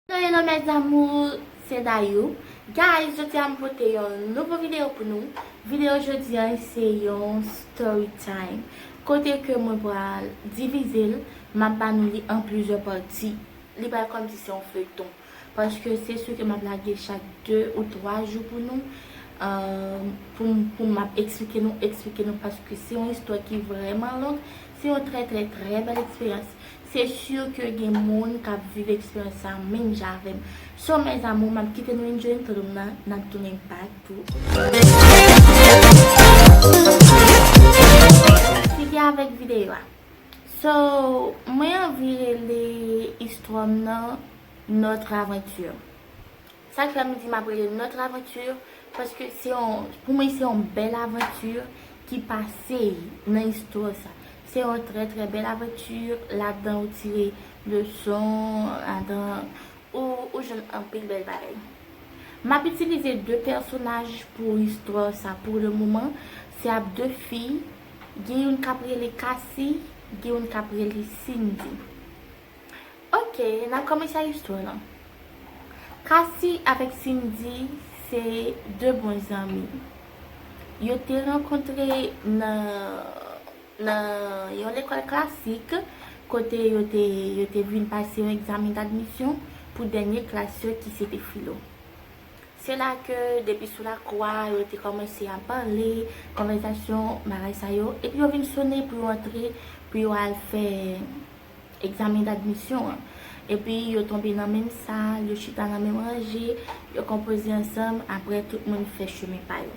Hello hello mes amours se Dayou Guys jodi a m pote yon nouvo video pou nou Video jodi a se yon story time Kote ke mwen pral divize l M ap ba nou li an plizyè pati Li pral kòm si se yon feyton Paske se su ke m ap lage chak 2 ou 3 jou pou nou Pou m ap eksplike nou eksplike nou Paske se yon istwa ki vrèman long Se yon trè trè trè bèl eksperyans Se sur ke gen moun kap viv eksperyans sa menm jan avèm. So mes amours map kite nou enjoy tandem nan nap tounen back tou. Sigi avèk videyo a. So mwen anvi rele istwam nan notre aventure. Sa k fè m di m ap rele notre aventure paske se yon pou mwen se yon bèl aventure ki pase nan istwa sa. Se yon trè trè bèl aventure ladan ou tire leson ladan ou jwenn anpil bèl bagay. M ap itilize 2 pèsonaj pou istwa sa pou le moman se ap 2 fi gen youn k ap rele Cassy gen youn k ap rele Cindy. Ok nan kòmanse istwa lan. Kasi avèk Sindy se 2 bon zanmi. Yo te rankontre nan nan yon lekòl klasik kote yo te yo te vin pase yon egzamen dadmisyon pou dènye klas yo ki se te filo. Se la ke depi sou lakou a yo te kòmanse ap pale, konvèzasyon bagay sa yo epi yo vin sone pou yo antre pou yo al fè egzamen dadmisyon an. Epi yo tonbe nan menm sal, yo chita nan menm ranje, yo konpoze ansanm, apre tout moun fè chemen pa yo.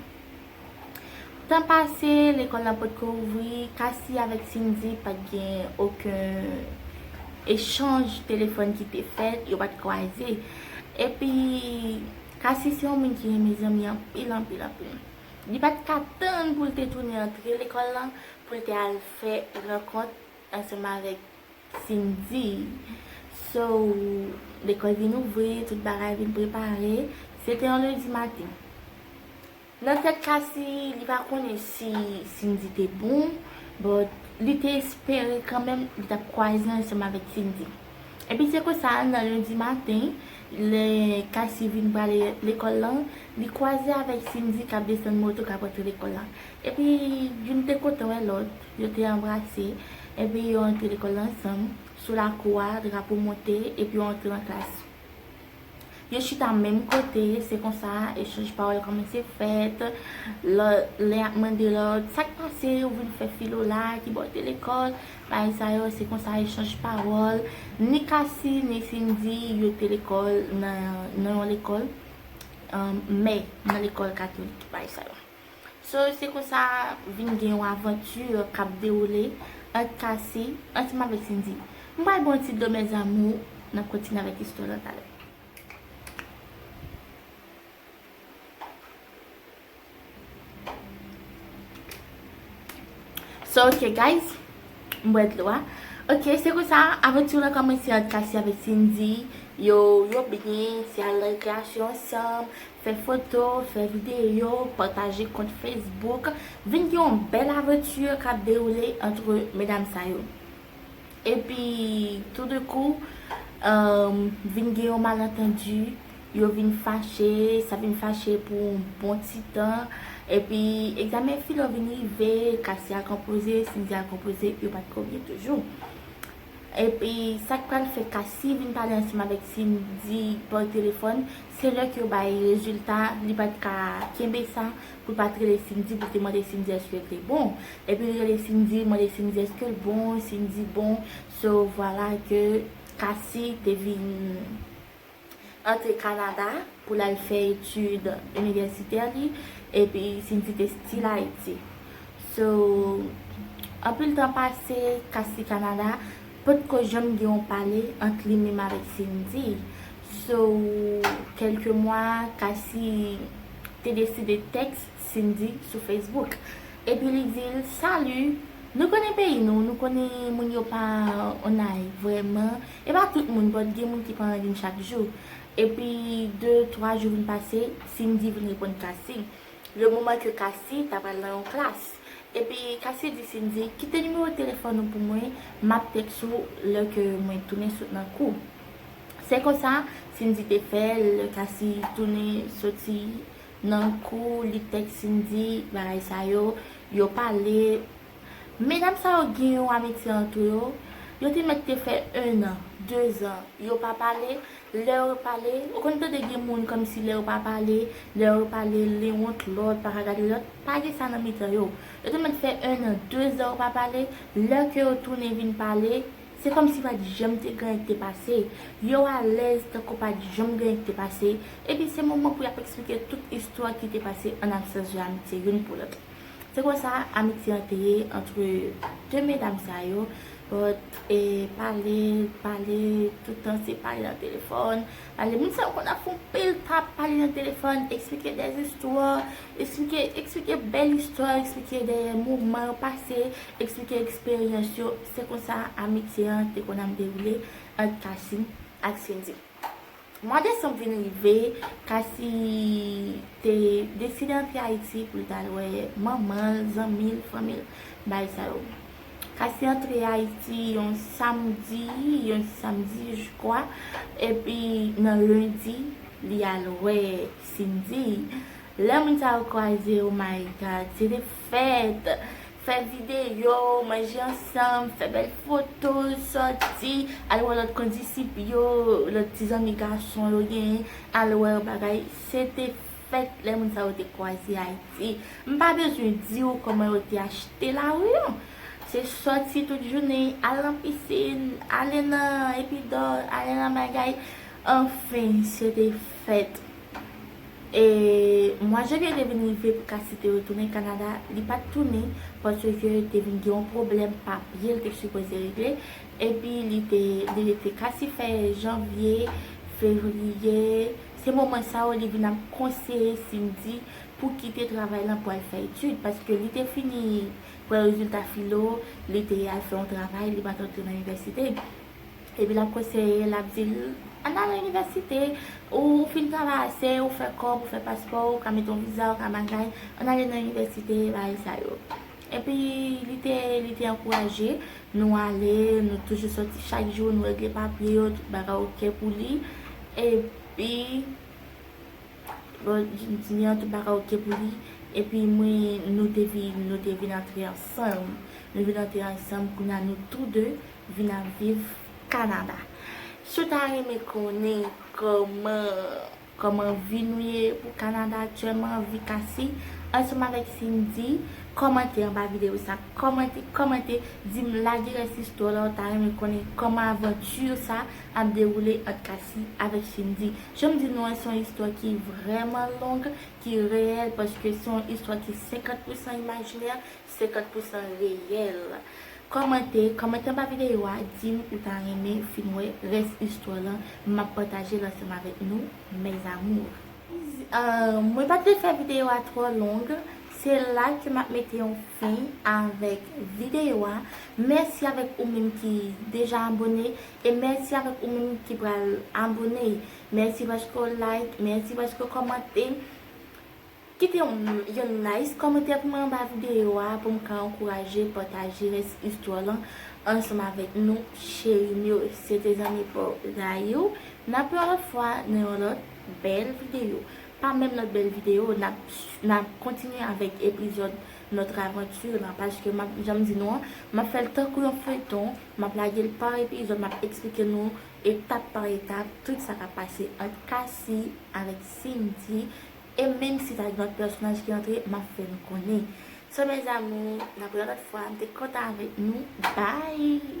Tan pase, lekòl la potko ouvri, Kasi avèk Sindi pa t gen oken echanj telefòn ki te fèt, yo pa t kwaze. Epi, Kasi se yon moun ki renmen zanmi anpil anpil anpil. Li pa t ka tann pou l te tounen antre lekòl la, pou l te al fè rankont Ansanm avèk Cindy. So, lekòl vin ouvri, tout bagay vin prepare. Se te yon lendi maten. Nan tèt Cassy, li pa konnen si Cindy te bon, but li te espere kanmenm li t ap kwaze ansanm avèk Cindy. Epi se konsa, nan lendi maten, lè Cassy vin prale lekòl lan, li kwaze avèk Cindy k ap desann moto k ap rantre lekòl lan. Epi, youn te kontan wè lòt, yo te anbrase, epi yo antre lekòl ansanm, sou lakou a, drapo monte, epi yo antre nan klas. Yo chita menm kote, se konsa, echanj pawòl kòmanse fèt, lòt, len ap mande lòt, sa k pase, ou vin fè filo la, ki bò w te lekòl, bagay sa yo, se konsa, echanj pawòl, ni Kasi, ni Sindi, yo te lekòl nan, nan yon lekòl, mè, nan lekòl katolik, bagay sa yo. So se konsa vin gen yon aventure kap dewoule ant Cassie ansanm avèk Cindy. M pral baw yon ti do mes amours, nap kontinye avèk istwa lan talè. So ok guys, m bwè dlo a. Ok se konsa aventure lan kòmanse ant Cassie avèk Cindy, yo byen, se al nan rekreasyon ansanm, Fè foto, fè videyo, pataje kont Facebook, vin gen yon bèl aventure kap dewoule entre medam sa yo. Epi tout de kou, vin gen yon malentendu, yo vin fache, sa vin fache pou yon bon ti tan, epi egzamen filo vin rive, Cassy al konpoze, Cindy al konpoze, yo pat konbyen toujou. Epi sak pral fè Cassie vin pale ansanm avèk Cindy pa telefòn, se lè ke yo bay rezilta li pat ka kenbe sa pou l pat rele Cindy pou l te mande Cindy èske l te bon. Epi l rele Cindy, l mande Cindy èske l bon, Cindy bon, so vwala ke Cassie te vin. antre Kanada pou l al fè etid inivèsitè li epi Cindy te still Ayiti so anpil tan pase Cassie Kanada potko janm gen yon pale ant li menm avèk Cindy so kelke mwa Cassie te deside tèks Cindy sou Facebook epi li di l salut nou konnen peyi nou nou konnen moun yo pa on ay vrèman. E pa tout moun bon gen moun ki pran randevou chak jou epi de twa jou vin pase Cindy vin reponn Cassy le moman ke Cassy ta pral nan yon klas epi Cassy di Cindy kite nimewo telefòn ou pou mwen map tèks ou lè ke mwen tounen sot nan kou se konsa Cindy te fè lè Cassy tounen soti nan kou li tèks Cindy bagay sa yo yo pale. Medam sa yo gin yon amitye antre yo, yo te mèt te fè 1 an, 2 zan, yo pa pale, lè yo pale, ou konn tande gin moun kòmsi lè yo pa pale, lè yo pale, li wont lòt pa ka gade lòt, pa gin sa nan mitan yo. Yo te mèt fè 1 an, 2 zan yo pa pale, lè ke yo tounen vin pale, se kòmsi pa t janm te gen anyen ki te pase, yo alèz tankou pa t janm gen anyen ki te pase, epi se moman pou y ap eksplike tout istwa ki te pase an absans yo amitye youn pou lòt. Se konsa amitye an te ye antre 2 medam sa yo, but e pale, pale, tout tan se pale nan telefòn, pale, moun sa yo konn ap fè yon pil pap, pale nan telefòn, eksplike dè istwa, eksplike, eksplike bèl istwa, eksplike dè moman yo pase, eksplike eksperyans yo, se konsa amitye an te konn ap dewoule ant Kasim ak Sindi. Mwa desanm vin rive, Kasi te deside antre Ayiti pou l ta al wè manman l, zanmi l, fanmi l, bagay sa yo. Kasi antre Ayiti yon samdi, yon ti samdi je kwa, epi nan lendi li al wè Cindy. Lè moun sa yo kwaze, oh my God, se te fèt! Fè videyo, manje ansanm, fè bèl foto, sòti, al wè lòt kondisip yo, lòt ti zanmi gason yo genyen, al wè yo bagay. Se te fèt lè moun sa yo te kwaze Ayiti. M pa bezwen di ou kòman yo te achte lari yo. Se sòti tout jounen, al nan pisin, ale nan Epidò, ale nan bagay. Anfen, se te fèt. E mwa janvye te vin rive pou Cassy te retounen Kanada, li pat tounen paske te vin gen yon pwoblèm papye l te sipoze regle epi li te li rete Cassy fè janvye, fevriye, se moman sa yo li vin ap konseye Cindy pou kite travay lan pou al fè etid paske li te fini pran rezilta filo li te al fè yon travay li pat antre nan inivèsite. Epi lap konseye, lap dil, Ann al nan inivèsite, ou fin travay ase, ou fè kòb, ou fè paspò, ou ka mete yon viza, ou ka bagay, ann ale nan inivèsite, bagay sa yo. Epi li te, li te ankouraje, nou ale, nou toujou soti chak jou, nou regle papye yo, tout bagay ok pou li. Epi, bon, jèn fi an, tout bagay ok pou li. Epi mwen, nou te vin, nou te vin antre ansanm. Nou vin antre ansanm, kounye a nou tou de, Vin ap viv Canada. Siw ta renmen konnen kòman kòman vi nou ye pou Canada aktyèlman vi Cassy ansanm avèk Cindy kòmante anba video sa kòmante kòmante dim lage rès istwa la ou ta renmen konnen kòman aventure sa ap dewoule ant Cassy avèk Cindy janm di nou an se yon istwa ki vrèman long ki reyèl paske se yon istwa ki 50 pousan imajinè 50 pousan reyèl. Kòmante, kòmante anba videyo a dim ou ta renmen fin wè rès istwa lan map patajel ansanm avèk nou mes amours. Mwen pa t vle fè videyo a twò long, se la ke map mete yon fen avèk videyo a, mèsi avèk ou menm ki deja abone e mèsi avèk ou menm ki pral abone, mèsi paske w like, mèsi paske w kòmante. Kite yon nice kòmantè pou mwen anba video a pou m ka ankouraje pataje nice histoire lan ansanm avèk nou cheri m yo se te zanmi paw Gayou nan ap yon lòt fwa nan yon lòt bèl video pa menm lòt bèl video n ap kontinye avèk epizòd notre aventure lan paske m ap janm di nou an m ap fè l tankou yon feyton m ap lage l pa epizòd m ap eksplike nou etap pa etap tout sa k ap pase ant Cassy avèk Simdy E menm si ta gen lòt pèsonaj ki antre map fè nou konnen. So mes amours nap wè lòt fwa m te kontan avèk nou bye.